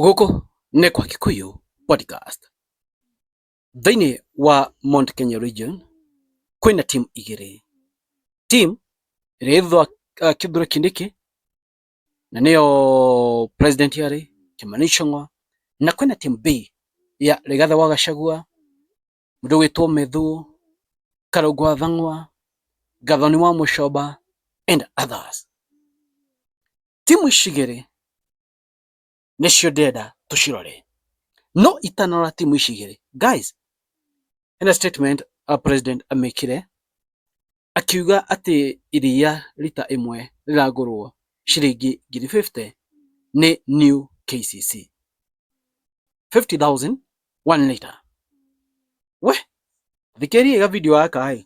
Gũkũ nĩ kwa Kikuyu podcast. Thĩinĩ wa Mount Kenya region kwĩna team igĩrĩ. Team ĩrĩa ĩthwa uh, kĩthura kĩndĩkĩ na nĩyo president yarĩ Kimani Ichung'wa na kwĩna team B ya Rigathi wa Gachagua mũndũ wĩtwo Methu Karũngũ wa Thang'wa Gathoni wa Mũcoba and others. Timu ici igĩrĩ nĩcio ndĩrenda tũcirore no itanora timu ici igĩrĩ guys ena statement a uh, president amekire akiuga atĩ iria rita ĩmwe rĩragũrwo ciringi ngiri 50 nĩ new KCC 50000 1 liter we thikĩria ga video gaka ĩ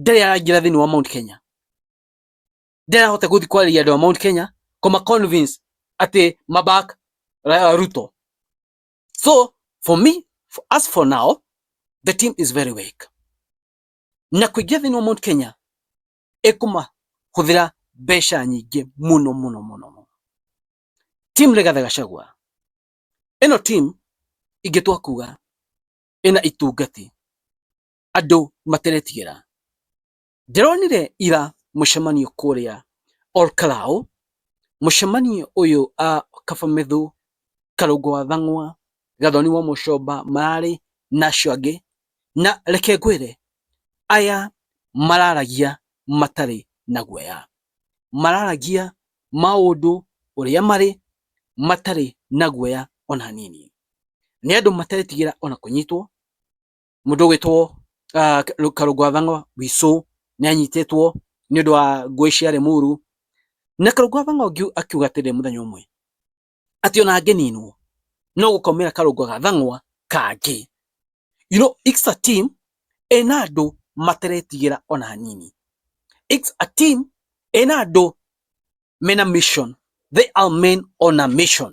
ndarĩ araingĩra thĩinĩ wa Mount Kenya ndarahota gũthiĩ kwarĩria andũ a Mount Kenya kũma convince atĩ mabak uh, Ruto so for me for us for now the team is very weak na kũingĩra thĩinĩ wa Mount Kenya ĩkũma hũthĩra mbeca nyingĩ mũno mũno mũno mũno team Rigathi Gachagua ĩno team ingĩtua kuga ĩna itungati andũ materetigĩra. Ndĩronire ira mũcemanio kũrĩa Olkalau, mũcemanio ũyũ a Kabamethu, Karũngũ wa Thang'wa, Gathoni wa Mũcomba mararĩ na acio angĩ, na reke ngwĩre aya mararagia matarĩ na guoya, mararagia maũndũ ũrĩa marĩ matarĩ na guoya ona hanini. Nĩ andũ matetigĩra ona kũnyitwo, Mũndũ ũgwĩtwo uh, Karũngwa Thang'o Wicũ nĩ anyitĩtwo nĩ ũndũ wa ngũĩ cia Rĩmuru. Na Karũngwa Thang'o akiuga atĩrĩ mũthenya ũmwe atĩ ona angĩninwo no gũkomera Karũngwa ga Thang'wa kangĩ. You know, it's a team ena andũ materetigĩra ona hanini. It's a team ena andũ mena mission. They are men on a mission.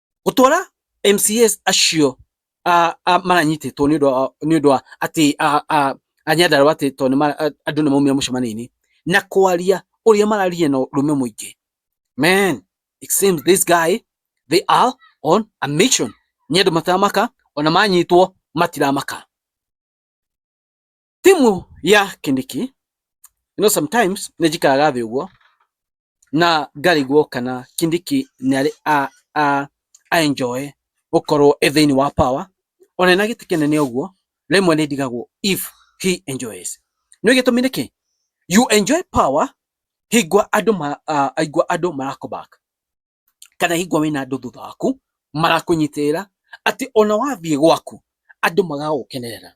gũtwara MCAs acio a- a- maranyitĩtwo nĩ ũndũ wa- nĩ ũndũ wa atĩ a- a- a Nyandarua atĩ tondũ nĩ ma- a- andũ nĩ maumire mũcemanio-inĩ na kwaria ũrĩa mararia na ũrũme mũingĩ man it seems this guy they are on a mission nĩ andũ mataramaka ona manyitwo matiramaka timu ya kindiki you know sometimes ne jikaraga thi uguo na ngarigwo kana kindiki ni ari a a a enjoy gukorwo e thiini wa power ona na giti kinene uguo rimwe ni ndigagwo if he enjoys ni gitumi niki you enjoy power hingwa andu ma uh, aigwa andu marakobaka kana hingwa wina andu thutha waku marakunyitirira ati ona wathie gwaku andu magagukenerera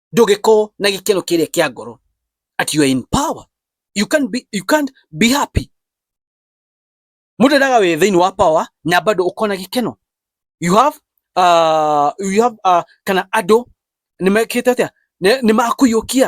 ndũngĩkorwo na gĩkeno kĩrĩa kĩa ngoro at you are in power you can't be, you can't be happy mũndũ endaga wĩ thĩinĩ wa power na bado ũkona gĩkeno you have uh, you have uh, kana andũ nĩmekĩte atĩa nĩmakũiyũkia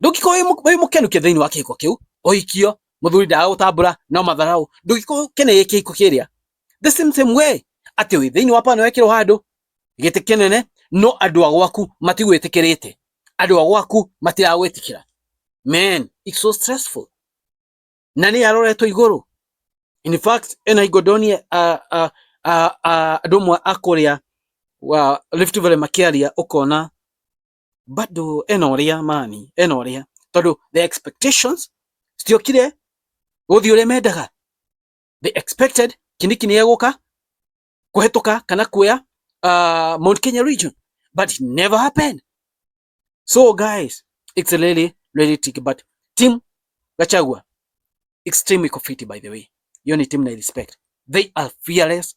ndũngĩkorwo wĩ mũkenu kĩ thĩinĩ wa kĩhiko kĩu ũhikio mũthuri ndaga gũtambũra no matharaũ ndũngĩkorwo kene gĩ kĩhiko kĩrĩa the same same way atĩ wĩ thĩinĩ wa pana wekĩrwo handũ gĩtĩ kĩnene no andũ a gwaku matigwĩtĩkĩrĩte andũ a gwaku matiragwĩtĩkĩra man it's so stressful na nĩ aroretwo igũrũ in fact ena igodonie andũ amwe a kũrĩa wa Rift Valley makĩaria ũkona bado ena ũrĩa mani ena ũrĩa tondũ the expectations citiokire gũthiĩ ũrĩa mendaga the expected kiniki nĩ egũka kũhetũka kana kuoya uh, Mount Kenya region but it never happened so guys it's really really tricky but team Gachagua extremely confident by the way hiyo ni team na respect they are fearless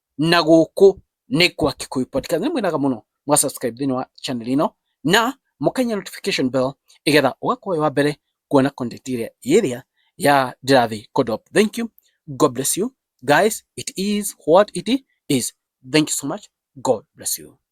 na gũkũ nĩ kwa Kikuyu Podcast. Nĩ mwĩnaga mũno mwa subscribe thĩinĩ wa channel ĩno na mũkainya notification bell ĩgetha ũgakorwo wa mbere kuona content ĩrĩa ĩrĩa ya ndĩrathiĩ kũdrop. Thank you. God bless you. Guys, it is what it is. Thank you so much. God bless you.